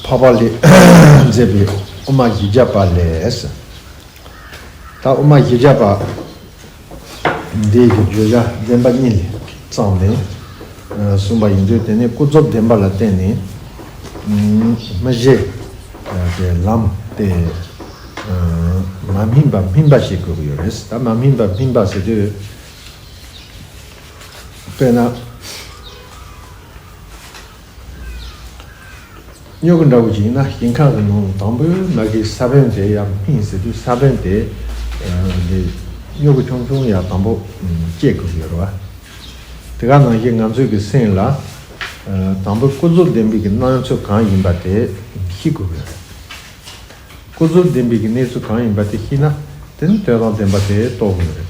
འཕགས་པ་ལས་མཛད་པའི་དབུ་མ་བཞི་བརྒྱ་པ་ལས། ད་དབུ་མ་བཞི་བརྒྱ་པ། འདས་ཀྱི་བརྗོད་བྱ་བདེན་པ་གཉིས་ལས་གཙང་མས་གསུངས་པ་ཡིན་དུས་དེ་ནི་ཀུན་རྫོབ་བདེན་པ་ལ་བརྟེན་ནས་མི་བཞེད་པའི་ལམ་སྟེ། མ་སྨིན་པ་སྨིན་པ་ཞེས་བཀོད་ཀྱི་ཡོད་རེད། ད་མ་སྨིན་པ་སྨིན་པ་ཟེར་དུས། དཔེར་ན། སྨྱུ་གུ་འདྲ་བོ་ཞིག་ཡིན་ན་ཞིང་ཁང་གི་ནང་ལ་དང་པོའི་ན་གིའི་ས་བོན་དེ་ཡར་སྨིན་ཟེར་དུས་ས་བོན་དེས་སྨྱུ་གུ་ཆུང་ཆུང་ཡར་དང་པོ་སྐྱེ་དགོས་ཀྱི་ཡོད་རེད་བ། དེ་ག་ནང་བཞིན་ང་ཚོས་ཀྱི་སེམས་ལ་དང་པོའི་སྐུ་གཟུགས་ལྡན་པའི་ཀྱི་སྣང་ཚུལ་གང་ཡིན་པ་དེ་ཤེས་དགོས་ཀྱི་ཡོད་རེད། སྐུ་གཟུགས་ལྡན་པའི་ཀྱི་གནས་ཚུལ་གང་ཡིན་པ་དེ་ཤེས་ན་དེ་ནི་དོན་དང་ལྡན་པ་དེ་རྟོགས་དགོས་ཀྱི་རེད།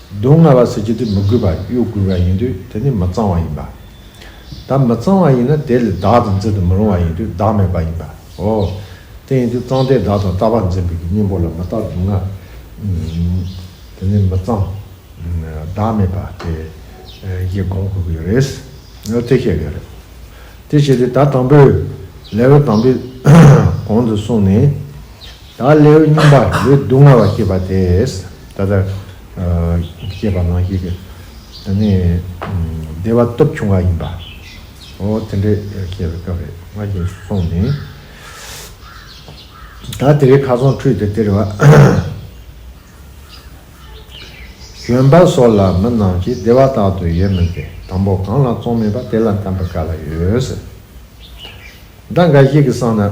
སྡུག་བསྔལ་བ་ཟེར་རྒྱུ་དེ་མི་དགོས་པར་གཡོ་དགོས་པ་ཡིན་དུས་དེ་ནི་མི་གཙང་བ་ཡིན་པ། ད་མི་གཙང་བ་ཡིན་ན་དེ་ལས་བདག་དང་འཛིན་དུ་མི་རུང་བ་ཡིན་དུས་བདག་མེད་པ་ཡིན་པ་འོ། དེ་ཡིན་དུས་གཙང་སྟེ་བདག་དང་ལྟ་བ་འཛིན་པའི་གི་གཉེན་པོ་ལ་མི་རྟག་སྡུག་བསྔལ། དེ་ནི་མི་གཙང། བདག་མེད་པ་དེ་གཞི་དགོངས་དགོས་ཀྱི་རེད། འོ་དེ་ཤེས་དགོས་རེད། དེ་བྱས་ཏེ་ད་དང་པོའི level དང་པོའི་གོང་དུ་སོང་ནས། དང་ལེའུ་རྙིང་པ་ལུས་སྡུག་བསྔལ་བ་བསྐྱེད་པ་དེས་ད་ལྟར་བསྐྱེད་པ་ནང་བཞིན་དུ་ནི་བདེ་བ་སྟོབས་ཆུང་བ་ཡིན་པའོ། དེ་འདྲའི་བསྐྱེད་པའི་སྐབས་རེ་སྔ་རྗེས་སུ་སོང་ནས། ད་དེ་རེ་ཁ་ཚོང་ཁྲུས་དེ་སྟེར་བ། གྱོན་པ་སོགས་ལ་མི་རྣམས་ཀྱིས་བདེ་བ་རྟག་ཏུ་ཡོད་མོད་པའི་དང་པོ་གང་ལ་བཙོང་མེད་པ་དེ་ལ་དམ་པའི་བཀའ་ལ་ཡོད། སྒྲ་འགའ་ཞིག་གིས་བསམས་ན།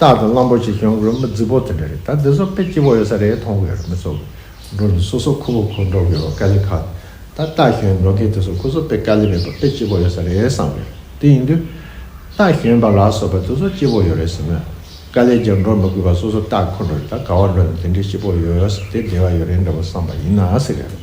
རྟག་ཏུ་གླང་པོ་ཆེ་གྱོན་དགོས་མི་རྫི་བོ་དེ་འདྲ་རེད་ད་འདི་ཚོ་དཔེ་སྐྱིད་པོ་ཡོད་ས་རེད་མཐོང་གི་ཡོད་རེད་མི་ཚོ་འགྲོ་ནི་སོ་སོ་ཁུ་བོ་ཁོ་འགྲོ་གི་ཡོད་པ་དཀའ་ལས་ཁག་ད་རྟག་གྱོན་འགྲོ་མཁན་དེ་ཚོ་ཁོ་ཚོ་དཔེ་དཀའ་ལས་མེད་པ་དཔེ་སྐྱིད་པོ་ཡོད་ས་རེད་བསམ་གི་ཡོད་དེ་ཡིན་དུས་རྟག་གྱོན་པ་ལ་སོགས་པ་དེ་ཚོ་སྐྱིད་པོ་ཡོད་རེད་ཟེར་མོད་དཀའ་ལས་ཀྱང་འགྲོ་མི་དགོས་པ་སོ་སོ་རྟག་ཁོ་འགྲོ་རེད་ད་ག་བ་འགྲོ་ནི་དེ་འདྲའི་སྐྱིད་པོ་ཡོད་ས་དེ་བདེ་བ་ཡོད་རེད་འདྲ་བོ་བསམ་པ་ཡིན་ན་ཟེར་གི་ཡོད།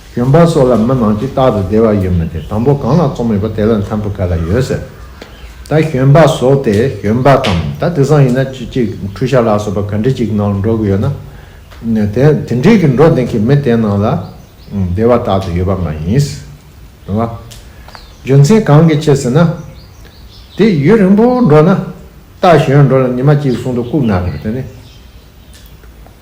གྱོན་པ་སོགས་ལ་མི་མང་གིས་རྟག་ཏུ་བདེ་བ་ཡོད་མི་བདེ་དང་པོ་གང་ལ་བཙོང་མེད་པ་དེ་ལ་འཚམས་པོ་ག་ལ་ཡོད་ཟེར། ད་གྱོན་པ་ཟོག་དེ་གྱོན་པ་དང་ད་དེ་སང་ཡིན་ན་ཅི་ཅིག་འཁྲུ་ཤ་ལ་སོགས་པ་ག་འདྲི་ཅིག་ནང་འགྲོ་གི་ཡོད་ན། དེ་དེ་འདྲིས་ཀྱི་འགྲོ་བདེན་གི་མི་དེ་ནང་ལ་བདེ་བ་རྟག་ཏུ་ཡོད་པ་མ་ཡིན། རེད་བ། རྒྱུ་མཚན་གང་གི་ཕྱིར་ཟེར་ན། དེ་ཡུན་རིང་པོ་འགྲོ་ན་རྟག་གཞོན་འགྲོ་ལ་ཉི་མ་གཅིག་གསུང་དུ་བཀུག་ན་རེད་དེ་ནི།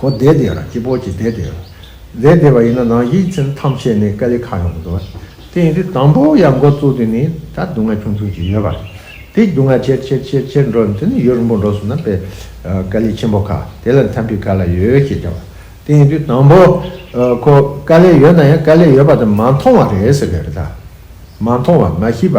གོ་བདེ་བདེ་ར་སྐྱིད་པོ་སྐྱིད་བདེ་བདེ་ར། བདེ་བདེ་བ་ཡིན་ན་ནང་ཡིག་ཚིམ་ཐམས་ཅད་ནས་ཀ་ལི་ཁ་ཡོང་འདུག་དེ་ཡིན་དུས་དང་པོ་ཡར་འགོ་བཙུགས་དུས་ནས་ད་སྡུག་བསྔལ་ཆུང་ཆུང་ཅིག་ཡོད་པ་རེད་དེ་སྡུག་བསྔལ་ཆེར་ཆེར་ཆེར་ཆེར་འགྲོ་དེ་ནས་ཡུན་རིང་པོ་འགྲོ་སོང་ན་པེ་ཀ་ལི་ཆེན་པོ་ཁ་དེ་ལ་འཐམ་པའི་ག་ལ་ཡོད་ཅེས་བྱ་བ་དེ་ཡིན་དུས་དང་པོ་ཁོ་ཀ་ལི་ཡོད་ན་ཡང་ཀ་ལི་ཡོད་པ་དེ་མ་མཐོང་བ་རེད་ཟེར་གི་རེད་ད་མ་མཐོང་བ་མ་ཤེས་པ།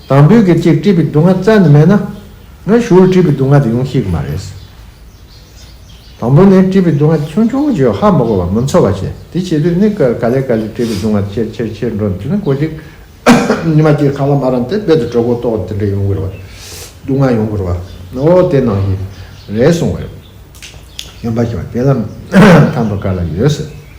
དང་པོའི་གེགས་ཀྱིས་དཀྲིས་པའི་སྡུག་བསྔལ་བཙལ་ནས་མེད་ན། ང་ཞུགས་ལ་དཀྲིས་པའི་སྡུག་བསྔལ་དེ་ཡོང་གི་ཡོད་མ་རེད། དང་པོ་ནས་དཀྲིས་པའི་སྡུག་བསྔལ་ཆུང་ཆུང་གི་རྗེས་ཧ་མ་གོ་བར་མི་འཚོ་བ་བྱེད། དེ་བྱེད་དུས་ནི་ག་ལེ་ག་ལེ་དཀྲིས་པའི་སྡུག་བསྔལ་ཆེར་ཆེར་ཆེར་འགྲོ་འདི་ནི་གོ་ཅིག། ཉི་མ་ཅིག་ཁ་ལ་མ་ར་འདི་རྦད་དུ་གྲོད་ཁོག་ལྟོགས་འདི་འདྲ་ཡོང་གི་རེད་བ། སྡུག་བསྔལ་ཡོང་གི་རེད་བ། ཨོ་དེ་ནང་གི་རེད་གསུངས་བ་རེད། གཞོན་པ་ཞིག་བ་དེ་ལ། དང་པོ་ག་ལ་ཡོད་ཟེར།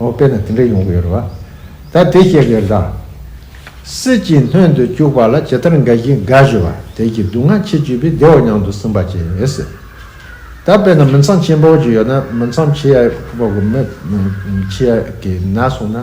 ཨོ་དཔེར་ན་དེ་འདྲ་ཡོང་གི་ཡོད་རེད་བ། ད་དེ་སྐྱེ་དགའི་ལྷ། སྲིད་ཀྱིས་སྣོན་དུ་བཅུག་པ་ལ་ཇི་ལྟར་དགའ་བཞིན་དགའ་བཞིན་བ་དེ་ཀྱི་སྡུག་བསྔལ་ཆེས་བརྒྱུད་པའི་བདེ་བ་མྱང་དུ་སིམ་པ་ཅན་ཡོད་སྲིད། ད་དཔེར་ན་མི་འཚམས་ཆེན་པོ་ཅིག་ཡོད་ན་མི་འཚམས་ཆེ་ཡག་པོ་གི་མི་ཆེ་ཡག་གི་ན་སོང་ན།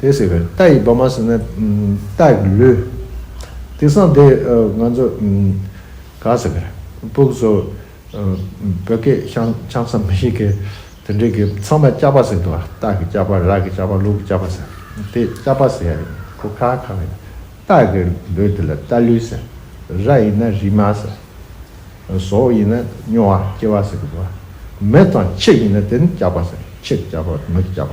དེ་ཟེར། རྟ་ཡི་བ་མ་ཟེར་ན་རྟ་ཡི་ལུས། དེ་སང་དེ་ང་ཚོ་ག་ཟེར། སྤུག་གསོ། བོད་སྐད་ཆང་ས་མི་ཞིག་གིས་དེ་འདྲའི་གི་ཚང་མ་ལྕགས་པ་ཟེར་འདུག་རྟ་གི་ལྕགས་པ་རག་གི་ལྕགས་པ་ལུག་གི་ལྕགས་པ་ཟེར། དེ་ལྕགས་པ་ཟེར་ཡ་ཡིན་ཁོ་ཁ་ཁ་ཡིན། རྟ་གི་ལུས་དེ་ལ་རྟ་ལུས་ཟེར། ར་ཡིན་ན་རིལ་མ་ཟེར། ཟོ་ཡིན་ན་སྨྱོ་བ་སྐྱེ་བ་ཟེར་གི་འདུག། མི་དང་ཕྱི་ཡིན་ན་དེ་ནི་ལྕགས་པ་ཟེར་ཕྱི་གི་ལྕགས་པ་མི་གི་ལྕགས་པ།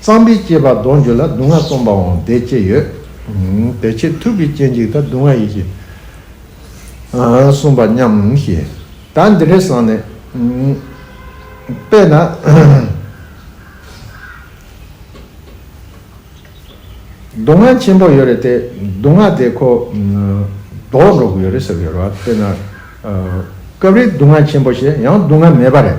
གཙང་པའི་སྐྱེས་པ་གདོང་བརྒྱུད་ལ་སྡུག་བསྔལ་སྟོང་པའང་བདེ་སྐྱེད་ཡོད་དེ། ཆེས་མཐུག་པའི་སྐྱེ་འཇིག་དང་སྡུག་བསྔལ་ཡིད་ཀྱིས་གསུངས་པ་སྙམ་ཞེས། ད་འདི་འདྲའི་སང་ནི། དཔེར་ན། སྡུག་བསྔལ་ཆེན་པོ་ཡོད་རེད་དེ། སྡུག་བསྔལ་དེ་ཁོ། ལྡོག་འགྲོ་གི་ཡོད་རེད་ཟེར་གྱི་ཡོད་རེད་བ། དཔེར་ན། སྐབས་རེ་སྡུག་བསྔལ་ཆེན་པོ་ཞེས་ཡང་སྡུག་བསྔལ་མེད་པ་རེད།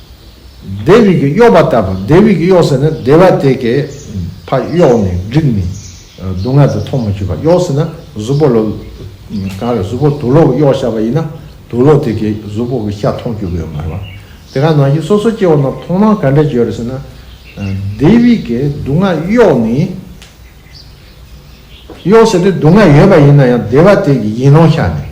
ལྡེ་བི་གིས་གཡོགས་པ་ལྟ་བུ་ལྡེ་བི་གིས་གཡོགས་ཟེར་ན་སྡེ་བ་དེ་གས་ཕ་གཡོགས་ནས་བསྒྲིགས་ནས་སྡུག་བསྔལ་དུ་ཐོག་མ་ཆུད་པ་གཡོགས་ཟེར་ན་གཟུ་བོ་ལོ་གང་རེད་གཟུ་བོ་དུག་ལོག་གིས་གཡོགས་བཞག་པ་ཡིན་ན་དུག་ལོག་དེ་གས་གཟུ་བོ་གི་ཤ་ཐོག་བཅུག་གི་ཡོད་མ་རེད་པ། དེ་ག་ནང་བཞིན་སོ་སོའི་སྐྱེ་བོ་རྣམས་ཐོག་མར་ག་འདྲས་བྱོས་རེད་ཟེར་ན། ལྡེ་བི་གས་སྡུག་བསྔལ་གཡོགས་ནས། གཡོགས་ཟེར་ཏེ་སྡུག་བསྔལ་ཡོད་པ་ཡིན་ན་ཡང་སྡེ་བ་དེ་གས་ཡིན་ནོ་ཤ་ནས།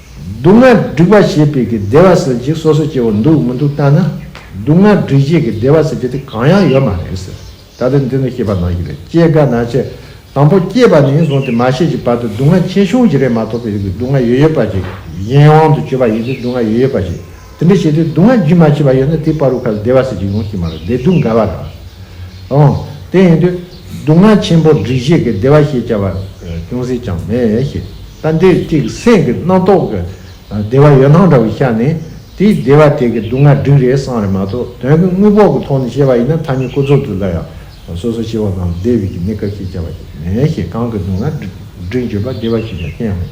སྡུག་བསྔལ་སྒྲིག་པ་ཞེས་པའི་གི་བདེ་བ་ཟེར་གྱི་སོ་སོ་སྐྱེ་བོ་འདུག་མི་འདུག་བལྟ་ན། སྡུག་བསྔལ་སྒྲིག་བྱེད་ཀྱི་བདེ་བ་ཟེར་རྒྱུ་དེ་གང་ཡང་ཡོད་མ་རེད་ཟེར། ད་ལྟ་འདི་ནས་ཤེས་པ་ནང་གི་རེད་སྐྱེས་དགའ་ན་ཆེ། དང་པོ་སྐྱེས་པ་ནས་བཟུང་སྟེ་མ་ཤེས་ཀྱི་བར་དུ་སྡུག་བསྔལ་ཆེ་ཆུང་གྱི་རེད་མ་ཐོག་པའི་རིགས་ཀྱི་སྡུག་བསྔལ་ཡོད་ཡོད་པ་ཅིག་གཞན་དབང་དུ་གྱུར་པ་ཡིན་ཏེ་སྡུག་བསྔལ་ཡོད་ཡོད་པ་ཞིག་དེ་འདྲ་བྱས་ཏེ་སྡུག་བསྔལ་རྒྱུན་མ་ཆད་པ་ཡོད་ན་དེའི་བར་རུ་ཁ་ལ་བདེ་བ་ཟེར་གྱི་ཡོང་གི་མ་རེད་བདེ་སྡུག་འགལ་བ་རེད། འོང། དེ་ཡིན་དུས། སྡུག་བསྔལ་ཆེན་པོར་སྒྲིག་བཞེས་ཀྱི་བདེ་བ་ཞེས་བྱ་བ་ཅུང་ཟད་ཀྱང་མེད་ཞེས་ལྟ་འདི་གཅིག་སེམས་ཀྱི་རྣམ་རྟོག་གི་བདེ་བ་ཡོད་སྣང་འདྲ་བོ་ཤར་ནས་དེའི་བདེ་བ་དེ་གི་སྡུག་བསྔལ་སྒྲིག་རེས་སང་རེ་མ་གཏོགས་དོན་གྱི་དངོས་པོ་གི་ཐོག་ནས་བཤད་པ་ཡིན་ན་ཐ་སྙད་ཀུན་རྫོབ་ཏུ་སླ་ཡང་སོ་སོ་སྐྱེ་བོ་རྣམས་བདེ་བའི་གནས་སྐབས་ཞེས་བྱ་བ་ཞིག་མེད་ཞེས་གང་གི་སྡུག་བསྔལ་སྒྲིག་བརྗོད་པ་བདེ་བ་ཞེས་བྱ་བ་ཅན་ཡང་མེད།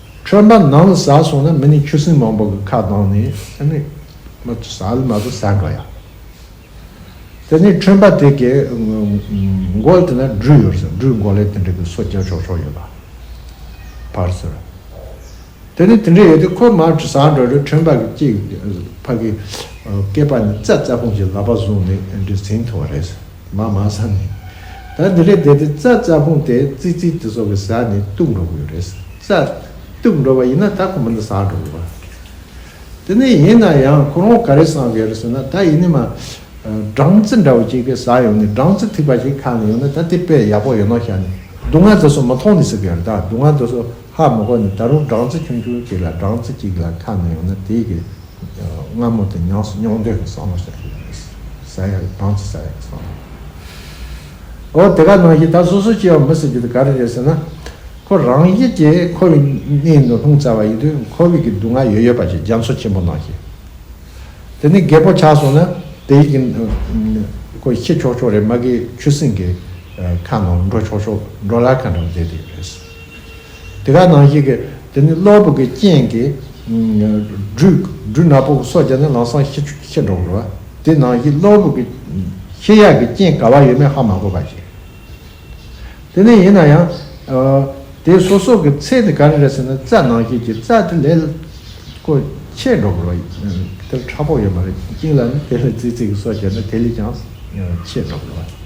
ཁྲོན་པ་ནང་ལ་ཟ་སོང་ན་མི་ནི་ཆུ་སྲིན་མང་པོ་གི་ཁ་གདང་ནས་ཨེ་ནི། མ་ཏོ་ཟ་ལི་མ་ཏོ་ཟ་ག་ཡ། དེ་ནས་ཁྲོན་པ་དེ་གའི་མགོ་ལ་དེ་ན་སྦྲུལ་ཡོད་རེད་ཟེར་སྦྲུལ་མགོ་ལས་དེ་འདྲ་གི་སོ་སྐྱ་ཆོག་ཆོག་ཡོད་པ་བར་ཟེར། དེ་ནས་དེ་འདྲ་ཡོད་དེ་ཁོ་མར་ཟ་འགྲོ་རེད་ཁྲོན་པ་གི་སྐྱེས་ཕ་གི་སྐེད་པ་ནས་རྩ་རྩ་ཕུང་ཅིག་ལག་པ་བཟུང་ནས་འདྲི་ཟིན་ཐུབ་པ་རེད་ཟེར། མ་མ་ས་ནི། ད་འདི་ལས་འདས་ཏེ་ཙག་ཙག་ཕུང་སྟེ་ཙི་ཙི་དེ་སོགས་ཀྱི་ཟག་ནི་གཏུགས་འགྲོ་གི་ཡོད་རེད། ཙག་གཏུགས་འགྲོ་བ་ཡིན་ན་ད་ཁོ་མོ་འདི་ཟག་འགྲོ་གི་བ་རེད། དེ་ནས་ཡིན་ན་ཡང་ཁོ་རང་ག་རེ་བསམ་གི་ཡོད་རེད་ཟེར་ན་ད་ཡིན་ནི་མ། སྦྲང་རྩི་འདྲ་བོ་ཅིག་གི་ཟག་ཡོང་ནི་སྦྲང་རྩི་ཐིགས་པ་ཞིག་ཁ་ནས་ཡོང་ནི་ད་དེ་དཔེ་ཡག་པོ་ཡོད་ནོ་ཤ་ནི་སྡུག་བསྔལ་དེ་སོགས་མི་མཐོང་ནི་ཟེར་གི་ཡོད་རེད་ད་སྡུག་བསྔལ་དེ་སོགས། ཧ་མོ་ཀོ་ནི་ད་རུང་སྦྲང་རྩི་ཆུང་ཆུང་ཅིག་ལ་སྦྲང་རྩི་གཅིག་ལ་ཁ་ན་ཡོང་ན་དེའི་གི་རྔ་མོ་དེ་ཉོག་སི་ཉོག་འདོད་ཀྱི་སྲང་མོ་ཞིག་རེད། ཟ་ཡ་རེད་སྦྲང་རྩི་ཟ་ཡ་རེད་སྲང་མོ་རེད། འོ་དེ་ག་ནང་བཞིན་ད་སོ་སོ་སྐྱེ་བ་མི་སྲིད་རྒྱུ་དེ་ག་རེ་རེད་ཟེར་ན། ཁོ་རང་བཞིན་གྱིས་ཁོ་བའི་སྣེའི་ནང་ལྷུང་ཚར་བ་ཡིན་དུས་ཁོ་བོས་གི་སྡུག་བསྔལ་ཡོད་ཡོད་པ་ཞིག་རྒྱ་མཚོ་ཆེན་པོ་ནང་ཞིག་དེ་ནས་རྒད་པོ་ཆགས་སོང་ན་དེའི་གི་ཁོ་ཤི་ཆོག་ཆོག་རེད་མ་གིའི་ཆུ་སྲིན་གི་ཁ་ནང་འགྲོ་ཆོག་ཆོག་འགྲོ་ལ་ཁ་འགྲོ་བསྡད་དེ་རེད། དེ་ག་ནང་བཞིན་གྱི་དེ་ནི་གློ་བུར་གྱི་རྐྱེན་གྱིས། སྦྲུལ་ནག་པོ་སོགས་ཀྱང་ནི་ལང་སང་ཤི་འགྲོ་བར་བ། དེ་ནང་བཞིན་གློ་བུར་གྱི། ཤི་ཡག་གི་རྐྱེན་ག་བ་ཡོད་མེད་ཧ་མ་གོ་བ་ཞིག། དེ་ནི་ཡིན་ན་ཡང། དེའི་སོ་སོ་གྱི་ཚད་ནི་ག་རེ་རེད་ཟེར་ན་རྩ་ནང་བཞིན་གྱི་རྩ་དེ་ལས། ཀོ། ཆད་འགྲོ་བར་བ། དེ་ལ་ཕྲ་ཕོགས་ཡོད་མ་རེད་ཅིང་ལ་ནི་དེ་ལས་ཙིག་ཙིག་གི་སོགས་ཀྱང་ནི་དེ་ལས་ཀྱང། ཆད་འགྲོ་བར་བ།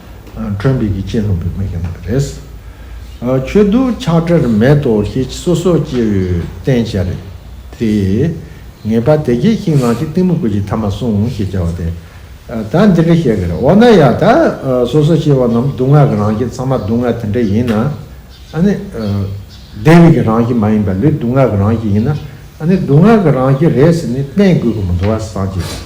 ཁྲོན་བོད་ཀྱི་གཅེས་ནོར་བུ་མོ་ཡིན་པ་རེད། ཆོས་གདུགས་ཆགས་བྲལ་མེད་དོ་ཞེས་སོ་སོ་སྐྱེ་བོའི་བསྟན་བྱ་རེད་དེ། ངེས་པ་དེ་སྐྱེས་ཤིང་ནང་བཞིན་གཏི་མུག་གི་ཐ་མ་བསྲུང་ཞེས་བྱ་བ་དེ་ད་འདི་འདྲ་བཤད་གི་རེད་འོ་ན་ཡ་ད་སོ་སོ་སྐྱེ་བོ་རྣམས་སྡུག་བསྔལ་གྱི་རང་བཞིན་ཚང་མ་སྡུག་བསྔལ་དེ་འདྲ་ཡིན་ན་ཨ་ནི། བདེ་བའི་གི་རང་བཞིན་མ་ཡིན་པ་ལུས་སྡུག་བསྔལ་གྱི་རང་བཞིན་ཡིན་ན་ཨ་ནི་སྡུག་བསྔལ་གྱི་རང་བཞིན་རེད་ཟེར་ནས་བསྟན་དགོས་གི་མི་འདུག་བ་སངས་རྒྱས་པ།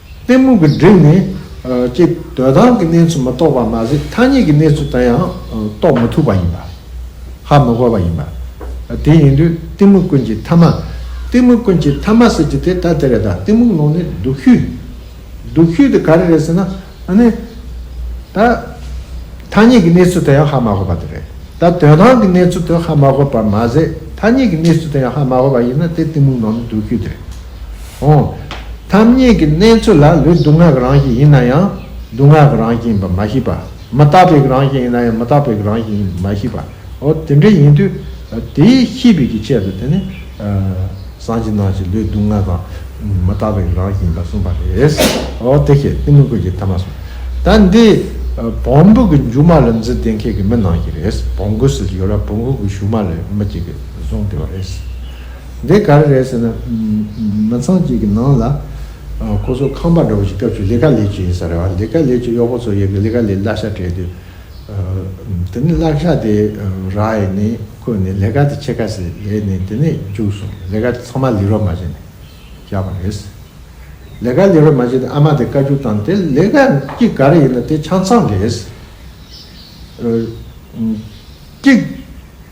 གཏི་མུག་གི་སྒྲིབ་ནི། ཅེས་འདོད་དང་གི་གནས་ཚུལ་མི་རྟོགས་པར་མ་ཟད་ཐ་སྙད་ཀྱི་གནས་ཚུལ་དང་ཡང་རྟོགས་མི་ཐུབ་པ་ཡིན་པ། ཧ་མི་གོ་བ་ཡིན་པ། དེ་ཡིན་དུས་གཏི་མུག་ཀུན་གྱི་ཐ་མ། གཏི་མུག་ཀུན་གྱི་ཐ་མ་ཟེར་གྱི་དེ་ལྟ་དེ་རེད་ད་གཏི་མུག་ནང་ནས་སྡུག་ཤོས། སྡུག་ཤོས་དེ་ག་རེ་རེད་ཟེར་ན། ནི། ད། ཐ་སྙད་ཀྱི་གནས་ཚུལ་དང་ཡང་ཧ་མ་གོ་བ་དེ་རེད། ད་དོན་དང་གི་གནས་ཚུལ་དུ་ཧ་མ་གོ་བར་མ་ཟད་ཐ་སྙད་ཀྱི་གནས་ཚུལ་དང་ཡང་ཧ་མ་གོ་བ་ཡིན་ན་དེ་གཏི་མུག་ནང་ནས་སྡུག་ཤོས་དེ་རེད། འོང། ཐབས་རྙེད་ཀྱི་གནས་ཚུལ་ལ་ལུས་སྡུག་བསྔལ་གྱི་རང་བཞིན་ཡིན་ན་ཡང་སྡུག་བསྔལ་གྱི་རང་བཞིན་ཡིན་པར་མ་ཤེས་པ། མི་རྟག་པའི་རང་བཞིན་ཡིན་ན་ཡང་མི་རྟག་པའི་རང་བཞིན་ཡིན་པར་མ་ཤེས་པའོ། དེ་འདྲ་ཡིན་དུས་དེའི་ཤེས་པའི་ཀྱི་ཆེད་དུ་དེ་ནི། སངས་ཀྱིས་ནང་བཞིན་ལུས་སྡུག་བསྔལ་དང། མི་རྟག་པའི་རང་བཞིན་ཡིན་པར་གསུངས་པ་རེད། འོ་དེ་ཤེས་ཏེ་མི་དགོས་ཀྱི་ཐ་མ་གསུངས། ད་འདི། བོང་བུ་གི་མཇུག་མ་ལ་མཛུལ་བསྡད་མཁན་གྱི་མི་ནང་བཞིན་རེད། བོང་བུ་ཟེར་གྱི་ཡོད་ལ་བོང་བུ་གི་གཞུག་མ་ལས་མི་གཅིག་གིས་བཟུང་བསྡད་པ་རེད། འདི་ག་རེ་རེད་ཟེར་ན། མི་ཚང་གཅིག་གི་ནང་ལ། ཁོ་ཚོ་ཁང་པ་འདྲ་བོ་ཞིག་སྐབས་ཤིག་ལི་ག་ལས་ཀྱི་ཡིན་ས་རེད་བ། ལི་ག་ལས་ཀྱི་གཡོག་པོ་ཚོ་ཡི་གི་ལི་ག་ལས་གླ་ཤ་སྤྲད་དུས། དེ་ནས་གླ་ཤ་དེ་ར་ཡི་ནས་བརྐོས་ནས་ལི་ག་དེ་ཕྱེད་ཀ་ཟིག་ལས་ནས་དེ་ནས་རྒྱུགས་སོང་ལི་ག་དེ་ཚང་མ་ལི་རོ་མ་བྱས་ནས་བཞག་པ་རེད། ལི་ག་ལི་རོ་མ་བྱས་ཏེ་ཨ་མ་དེ་བཀའ་རྒྱུགས་བཏང་དེ་ལི་ག་གཅིག་ག་རེ་ཡིན་ན་དེ་ཆང་ཚང་རེད། གཅིག།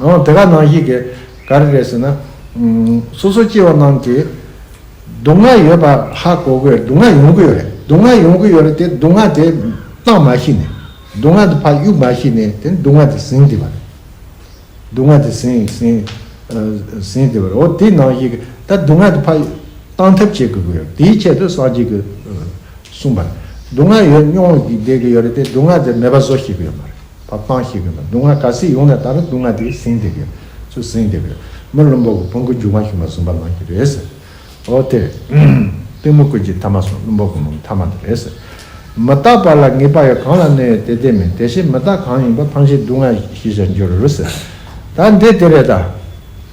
ཨང། དེ་ག་ནང་ཞིག་གིས་ག་རེ་རེད་ཟེར་ན། སོ་སོ་སྐྱེ་བོ་རྣམས་ཀྱིས་སྡུག་བསྔལ་ཡོད་པ་ཧ་གོ་གི་སྡུག་བསྔལ་ཡོང་གི་ཡོད་རེད། སྡུག་བསྔལ་ཡོང་གི་ཡོད་རེད་དེ་སྡུག་བསྔལ་དེ་གཏང་མ་ཤེས་ནས། སྡུག་བསྔལ་དེ་ཕ་གཡུག་མ་ཤེས་ནས་དེ་སྡུག་བསྔལ་དེ་ཟིན་བསྡད་པ་རེད། སྡུག་བསྔལ་དེ་ཟིན་ཟིན་ཟིན་བསྡད་པ་རེད། འོ་དེ་ནང་ཞིག་གིས་ད་སྡུག་བསྔལ་དེ་ཕ་གཏང་ཐབས་བྱེད་དགོས་ཀྱི་ཡོད་རེད། དེའི་ཆེད་དུ་སངས་རྒྱས་ཀྱིས་གསུངས་པ་རེད། སྡུག་བསྔལ་ཡོད་སྙོམས་ཀྱིས་བསྡད་ཀྱི་ཡོད་རེད་དེ་སྡུག་བསྔལ་དེ་མེད་པ་བཟོ་ཤེས་ཀྱི་ཡོད་མ་རེད། བ་སྤང་ཤེས་དགོས་ན་སྡུག་བསྔལ་ག་སྲིད་ཡོང་ནས་ད་རུང་སྡུག་བསྔལ་དེ་ཟིན་བསྡད་དགོས། ཚུར་ཟིན་བསྡད་དགོས། མི་བླུན་པོ་གི་བོང་གུ་རྒྱུག་མ་ཞུགས་ན་ཟུམ་པ་ལངས་ཀྱི་རེད་ཟེར། འོ་དེ། སྟོན་མོ་ཀུན་གྱི་མཐའ་མ་སོང་བླུན་པོ་གི་མོ་མཐའ་མ་དེ་རེད་ཟེར། མི་རྟག་པ་ལ་ངེས་པ་ཡོད་གང་ལ་གནོད་ཡོད་དེ་དེ་མིན་དེ་བཞིན་མི་རྟག་གང་ཡིན་པ་ཕངས་ཤིང་སྡུག་བསྔལ་ཞི་བྱར་འགྱུར་རོ་ཟེར། ད་འདི་དེ་རེད་ད།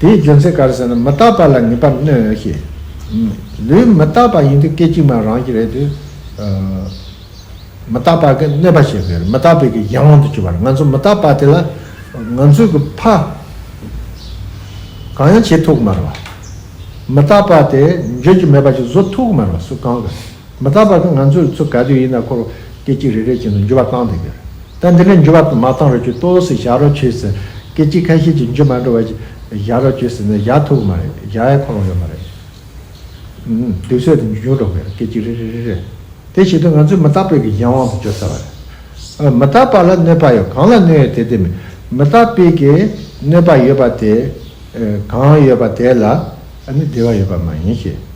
དེའི་རྒྱུ་མཚན་ག་རེ་ཟེར་ན་མི་རྟག་པ་ལ་ངེས་པར་གནོད་འོས་ཤིང། ལུས་མི་རྟག་པ་ཡིན་དུས་སྐད་ཅིག་མ་རང་གི་རེད་དུས། མི་རྟག་པ་གི་གནོད་པ་ཞེས་པའི་མི་རྟག་པའི་གི་གཞན་དབང་དུ་གྱུར་པ་ལ་ང་ཚོ་མི་རྟག་པ་དེ་ལ་ང་ཚོས་གི་ཕ། གང་ཡང་བྱེད་ཐུག་གི་མ་རེད་བ། མི་རྟག་པ་དེ་འགྱོད་ཀྱི་མེད་པ་ཅིག་བཟོ་ཐུག་གི་མ་རེད་བ་སུ་གང་གི། མི་རྟག་པ་ནི་ང་ཚོས་ཚུར་ག་དུས་ཡིན་ན་འཁོར་སྐད་ཅིག་རེ་རེ་བཞིན་དུ་འགྱུར་བ་བཏང་དུ་གྱུར། ད་འདི་ནས་འགྱུར་བ་མ་བཏང་རོགས་གྱིས་ལྟོས་ཟེར་བཞག་རོགས་གྱིས་ཟེར། སྐད་ཅིག་ཁ་ཤས་ཀྱིས་འགྱུར་མ་འགྲོ་བ་བཞག་རོགས་གྱིས་ཟེར་ནས་བཞག་ཐུབ་གི་མ་རེད་བཞག་ཡ་འཁོར་ཡོད་མ་རེད། དུས་ཚོད་དེ་འགྱུར་འགྲོ་གི་རེད་སྐད་ཅིག་རེ་རེ་རེ་རེ། དེ་བྱེད་དུས་ང་ཚོས་མི་རྟག་པའི་གི་གཞན་དབང་དུ་གྱུར་ཚར་བ་རེད། མི་རྟག་པ་ལ་གནོད་པ་ཡོད་གང་ལ་གནོད་ཡོད་དེ་དེ་མིན། མི་རྟག་པའི་གི་གནོད་པ་ཡོད་པ་དེ། གང་ཡོད་པ་དེ་ལ་ནི་བདེ་བ་ཡོད་པ་མ་ཡིན་ཞེས།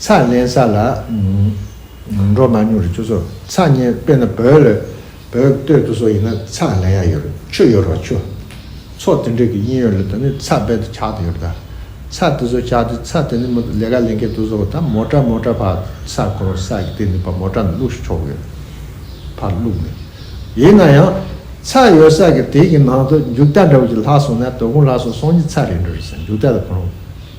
ཚགས་ལེན་ས་ལ་འགྲོ་མ་མྱོང་རེད་ཁྱོད་ཚོ་ཚགས་ཉན་དཔེ་ན་བོད་ལ་བོད་སྟོད་དུ་སོགས་ཡིན་ན་ཚགས་ལེན་ཡག་ཡོད་རེད་ཆོས་ཡོད་རོགས་ཆོས་ཚོགས་དེ་འདྲས་ཀྱི་དབྱིན་ཡོད་ལ་ད་ནི་ཚགས་དཔེ་དུ་ཆགས་དུ་ཡོད་རེད་ད་ཚགས་དེ་ཚོ་ཆགས་དུས་ཚགས་དེ་ནི་མོ་ལས་ཀ་ལེན་མཁན་དུ་སོགས་ད་མོ་ཏྲ་མོ་ཏྲ་ཕག་ས་ཁོ་ས་ཀྱི་སྟེང་ནས་ཕག་མོ་ཏྲ་ནས་བླུགས་ཤིག་ཆོག་གི་ཡོད་རེད་ཕག་བླུགས་ནས་ཡིན་ན་ཡང་ཚགས་ཡོད་ས་ཀྱི་དེ་ཀྱི་ནང་དུ་མཇུག་རྟ་འདྲ་བོ་ཞིག་ལྷག་སོང་ན་དོ་དགོང་ལྷག་སོང་སོང་ཉིད་ཚགས་རེད་འགྲོ་རེད་ས་མཇུག་རྟ་ལ་ཕུ་རུང།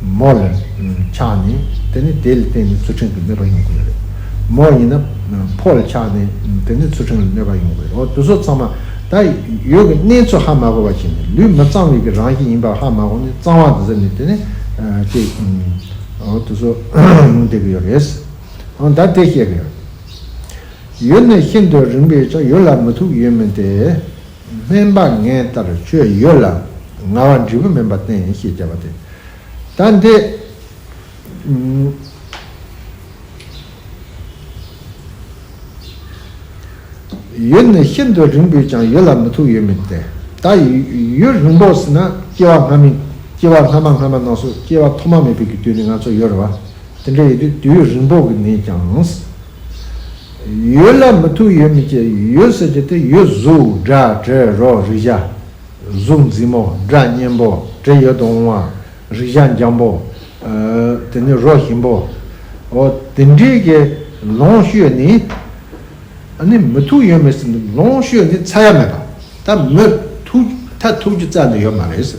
མོ་ལ་ཆགས་ནས་དེ་ནི་དེ་ལ་བརྟེན་ནས་ཚུལ་ཁྲིམས་ཀྱི་གནོད་པ་ཡོང་གི་ཡོད་རེད། མོ་ཡིན་ན་ཕོ་ལ་ཆགས་ནས་དེ་ནི་ཚུལ་ཁྲིམས་ལ་གནོད་པ་ཡོང་གི་རེད་འོ་དེ་ཚོ་ཚང་མ་ད་ཡོད་ཀྱི་གནས་ཚུལ་ཧ་མ་གོ་བ་བྱས་ནས་ལུས་མི་གཙང་བས་ཀྱི་རང་གི་ཡིན་པ་ཧ་མ་གོ་ནས་གཙང་བ་འདི་ཟེར་ནས་དེ་ནི་ཅེས་འོ་དེ་ཚོ་ལུང་སྟེར་གྱི་ཡོད་རེད། འོ་ད་དེ་བཤད་གི་ཡོད། ཡུལ་ནི་ཤིན་ཏུ་རིང་བས་ཀྱང་ཡུལ་ལ་མི་ཐུག་ཡོད་མིན་ཏེ། སྨན་པ་ངའི་ལྟར་ཁྱོད་ཡོད་ལ་ང་བ་འབྲས་བུ་སྨན་པ་བསྟེན་ཡིན་ཞེས་བྱ་བ་དེ་ལྟར་འདི། ཡུན་ནི་ཤིན་ཏུ་རིང་པོས་ཀྱང་ཡུལ་ལ་མི་ཐུག་ཡོད་མིན་ཏེ། ད་ཡུལ་རིང་པོ་ཟིན་ན་སྐྱེ་བ་སྔ་མིན་སྐྱེ་བ་སྔ་མ་སྔ་མ་རྣམས་སུ་སྐྱེ་བ་ཐོག་མ་མེད་པའི་དུས་ནི་ང་ཚོ་ཡོད་རེད་བ། དེ་འདྲ་ཡོད་དུས་དུས་ཡུན་རིང་པོ་གི་ནས་ཀྱང། ཡོད་ལ་མི་ཐུག་ཡོད་མི་སྐྱེ་ཡོད་ཟེར་རྒྱུ་དེ་ཡོད་གཟུགས་སྒྲ་དྲི་རོ་རེག་བྱ་གཟུགས་མཛེས་མོ་སྒྲ་སྙན་པོ་དྲི་ཡོད་དུ་འོང་བ་རེག་བྱ་འཇམ་པོ་དེ་ནི་རོ་ཞིམ་པོ་འོ་དེ་འདྲའི་གི་ལོངས་སྤྱོད་ནི་ནི་མི་ཐུག་ཡོད་མི་སྲིད་ལོངས་སྤྱོད་ནི་ཚ་ཡ་མེད་པ་ད་མི་ཐུག་ད་ཐུག་རྒྱུ་རྩ་ནས་ཡོད་མ་རེད།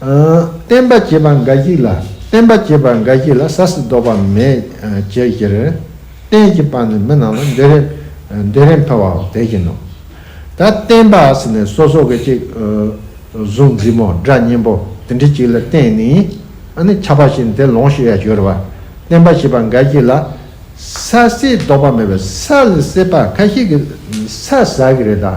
བསྟན་པ་བྱེད་པ་འགའ་ཞིག་ལ་བསྟན་པ་བྱེད་པ་འགའ་ཞིག་ལ་ས་སི་ཟློག་པ་མེད་ཅེས་ཞེ་རེར་བསྟན་གྱི་པ་ནི་མི་རྣམས་ལ་འདོད་རེ་འཕེལ་བའོ་དེ་བཞིན་ནོ། ད་བསྟན་པ་ས་ནི་སོ་སོ་གི་གཅིག། གཟུགས་མཛེས་མོ་སྒྲ་སྙན་པོ་འདི་འདྲི་གཅིག་ལ་བསྟན་ནི་ནི་ཁྱབ་པ་བཞིན་དེ་ལོངས་ཤིག་ཡ་ཞོ་རེ་བ་བསྟན་པ་བྱེད་པ་འགའ་ཞིག་ལ་ས་སི་ཟློག་པ་མེད་པས་ས་ལ་སི་པ་ཁ་ཤིག་གི་ས་ཟ་གི་རེ་ད།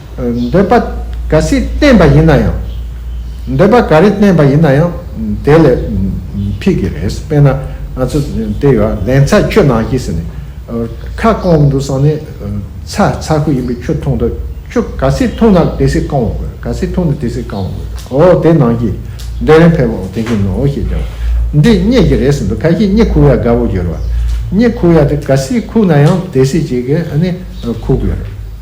འདོད་པ་ག་སྲིད་བསྟེན་པ་ཡིན་ན་ཡང། འདོད་པ་ག་རེ་བསྟེན་པ་ཡིན་ན་ཡང་དེ་ལས་ཕིག་གི་རེད་དཔེར་ན་ང་ཚོ་དེ་ཡོད་ཨ་ལན་ཚ་ཁྱོད་ནང་ཞིག་ཟེར་ནས་ཁ་སྐོང་འདུག་སང་ནི་ཚ་ཚ་ཁུ་ཡིན་པས་ཁྱོད་མཐོང་དུ་ཁྱོད་ག་སྲིད་མཐོང་ན་དེ་སྲིད་བསྐང་བ་དགོས་ག་སྲིད་མཐོང་ན་དེ་སྲིད་བསྐང་བ་དགོས་ཨོ་དེ་ནང་ཞིག་འདོད་རན་ཕལ་པོ་དེ་བཞིན་ནོ་ཞེས་བྱ་བ་འདི་རྙེད་ཀྱི་རེད་ཟེར་འདུག་ཁ་ཞེ་གཉིས་ཁུག་ཡ་དགའ་བོ་གྱུར་བ་གཉིས་ཁུག་ཡ་དེ་ག་སྲིད་ཁུག་ན་ཡང་དེ་སྲིད་ཅིག་གིས་ཨ་ནི་ཁུག་དགོས་རེད།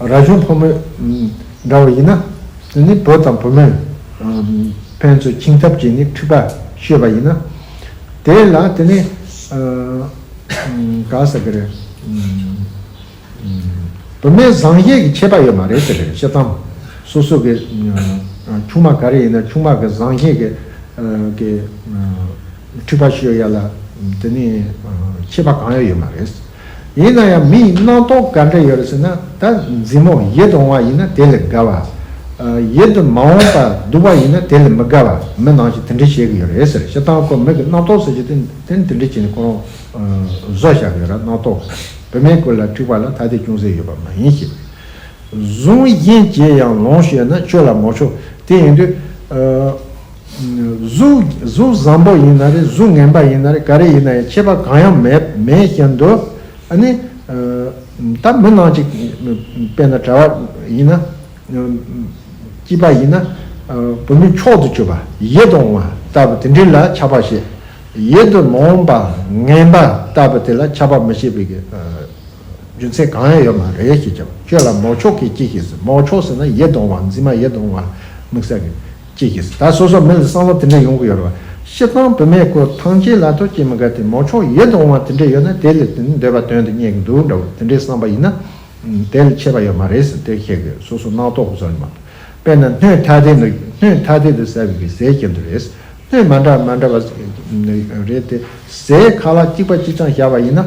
ར་གཞོན་ཕོ་མོས་འདྲ་བ་ཡིན་ན། འདི་ནི་བུ་དང་བུ་མོས་ཕན་ཚུན་འཆིང་ཐབས་ཀྱིས་ནི་འཁྲིག་པ་ཤོད་པ་ཡིན་ན། དེ་ལ་དེ་ནི་ག་ཟེར་གི་རེད། བུད་མེད་བཟང་གཞས་ཀྱི་ཆད་པ་ཡོད་མ་རེད་ཟེར་གི་རེད་ཤེས་དམ། སོ་སོ་གི་ཆུང་མ་ག་རེ་ཡིན་ན་ཆུང་མ་གི་བཟང་གཞས་ཀྱི་འཁྲིག་པ་ཤོད་ཡ་ལ་དེ་ནི་ཆད་པ་གང་ཡང་ཡོད་མ་རེད། ཡིན་ན་ཡང་མི་ཡི་སྣང་སྟོང་ག་འདྲ་ཡོད་རེད་ཟེར་ན་ད་འཛིན་མོ་ཡིད་དུ་འོང་བ་ཡིན་ན་དེ་ལས་དགའ་བ། ཡིད་དུ་མ་འོང་པར་སྡུག་པ་ཡིན་ན་དེ་ལས་མི་དགའ་བ་མི་ནང་བཞིན་དེ་འདྲས་བྱེད་གི་ཡོད་རེད་ཟེར་ཞེ་སྡང་ཁོ་མིག་གི་སྣང་སྟོང་ཟེར་རྒྱུ་དེ་དེ་འདྲས་བྱས་ནས་ཁོ་རང་བཟོ་བཞག་གི་ཡོད་ར་སྣང་སྟོང་བོད་མའི་སྐོར་ལ་འཁྲིག་པ་ལ་ཐ་དད་ཅུང་ཟད་ཡོད་པ་མ་ཡིན་ཞེས་པའི་གཟུང་གཞན་གྱིས་ཡང་ལོངས་ཤོད་ན་ཆོས་ལ་མོ་ཆོག་དེ་ཡིན་དུས། གཟུགས་བཟང་པོ་ཡིན་ན་རེད་གཟུགས་ངན་པ་ཡིན་ན་རེད་ག་རེ་ཡིན་ན་ཡང་ཁྱད་པར་གང་ཡང་མེད་བཞིན་དུ་ཨ་ནི། ད་མི་ནག་ཅིག་དཔེ་ན་གྲྭ་བ་ཡིན་ན། སྐྱིད་པ་ཡིན་ན། བུད་མེད་མཆོག་ཏུ་གྱུར་པ་ཡིད་དུ་འོང་བ་ལྟ་བུ་དེ་འདྲི་ལ་ཆགས་པ་ཞེས། ཡིད་དུ་མི་འོང་པ་ངན་པ་ལྟ་བུ་དེ་ལ་ཆགས་པ་མི་ཤེས་པའི་རྒྱུ་མཚན་གང་ཡང་ཡོད་མ་རེད་ཞེས་བྱ་བ་ཁྱོད་ལ་མོ་མཆོག་གིས་ཅི་ཞེས་སོ་མོ་མཆོག་ཟེར་ན་ཡིད་དུ་འོང་བ་འཛིན་མ་ཡིད་དུ་འོང་བ་དམིགས་བསལ་གྱི། ཅེས་ཀྱིས་ད་སོ་སོ་མི་ལ་བསམ་བློ་དེ་འདྲ་ཡོང་གི་ཡོད་རེད་བ། ཤི་ཐང་བུད་མེད་ཁོ་ཐང་ཅན་ལ་ཐོ་སྐྱེས་མི་འགའ་དེ་མོ་ཕྱོགས་ཡོད་དུ་འོང་བ་དེ་འདྲ་ཡོད་ན་དེ་ལས་དེ་འདྲ་འདོད་པ་དོན་དུ་རྙེད་གི་འདུག་འདྲ་བོ་དེ་འདྲའི་བསམ་པ་ཡིན་ན། དེ་ལ་ཆད་པ་ཡོད་མ་རེད་ཟེར་དེ་ཤེས་དགོས་སོ་སོ་སྣང་དོག་གི་བཟོ་ནི་མ་གཏོགས། དཔེར་ན་སྣོད་ཐ་དད་འདུག་སྣོད་ཐ་དད་དུ་ཟེར་བའི་གི་ཟས་ཁྱེར་འདུག་རེད། སྣོད་མ་འདྲ་མ་འདྲ་བ་རེད་དེ། ཟས་ཁ་ལག་གཅིག་པ་གཅིག་ཆང་བཞག་པ་ཡིན་ན།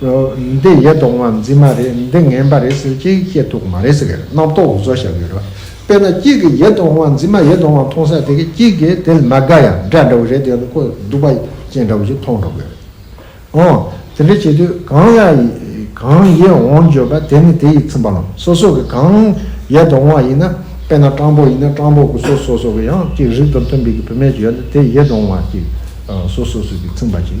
འདི་ཡེ་གདོང་མ་འཛིན་མ་རེད་འདི་ངན་པ་རེད་ཟེར་གཅིག་བཤད་ཐུབ་མ་རེད་ཟེར་གི་རྣམ་རྟོག་འུ་ཚོ་བཞག་གི་རེད། དཔེར་ན་གཅིག་གིས་ཡེ་གདོང་མ་འཛིན་མ་ཡེ་གདོང་མ་མཐོང་ས་དེ་གི་གཅིག་གིས་དེ་ལ་མ་དགའ་ཡང་འདྲ་འདྲ་བོ་རེ་དེ་ལ་ཁོ་སྡུག་པ་ཅན་འདྲ་བོ་ཞིག་མཐོང་འགྲོ་གི་རེད། འོང། དེ་འདྲ་བྱེད་དུས་གང་ཡ་གང་ཡེ་འོང་བརྗོད་པ་དེ་ནི་དེ་ཡི་ཚིམ་པ་ལ་སོ་སོ་གི་གང་ཡེ་གདོང་མ་ཡིན་ན་དཔེར་ན་སྤྲང་པོ་ཡིན་ན་སྤྲང་པོ་གི་སོ་སོ་སོ་གི་ཡང་གཅིག་རིགས་དང་མཐུན་པའི་གི་བུད་མེད་ཅིག་ཡོད་ན་དེ་ཡེ་གདོང་མ་ཅིག་སོ་སོ་སོ་གི་ཚིམ་པ་ཅིག།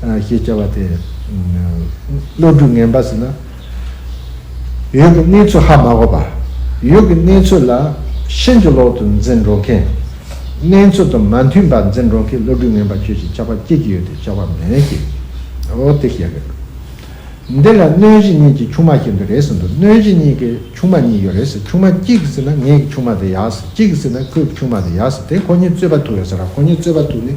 ཞེས་བྱ་བ་དེ། བློ་གྲོས་ངན་པ་ཟིན་ན། ཡུལ་གྱི་གནས་ཚུལ་ཧ་མ་གོ་བར། ཡུལ་གྱི་གནས་ཚུལ་ལ་ཤིན་ཏུ་ལོག་ཏུ་འཛིན་འགྲོ་མཁན། གནས་ཚུལ་དང་མ་མཐུན་པར་འཛིན་འགྲོ་མཁན་བློ་གྲོས་ངན་པ་ཁྱོད་ཀྱིས་ཆགས་པ་སྐྱེད་ཀྱི་ཡོད་དེ་ཆགས་པ་མེད་ཀྱི། འོ་དེ་ཞེས་རེད། འདི་ལ་གནོད་གཞི་གཉིས་ཀྱི་ཆུང་མ་བཞིན་དུ་རེད་ཟེར་འདུག་གནོད་གཞི་གཉིས་ཀྱི་ཆུང་མ་གཉིས་ཡོད་རེད་ཟེར་ཆུང་མ་གཅིག་གིས་ཟེར་ན་ངེད་ཀྱི་ཆུང་མ་དེ་ཡག་ཟེར་གཅིག་གིས་ཟེར་ན་ཁོས་ཀྱི་ཆུང་མ་དེ་ཡག་ཟེར་དེ་ཁོ་གཉིས་རྩོད་པ་ཐུག་ཡོད་ཟེར་ར་ཁོ་གཉིས་རྩོད་པ་ཐུག་ནས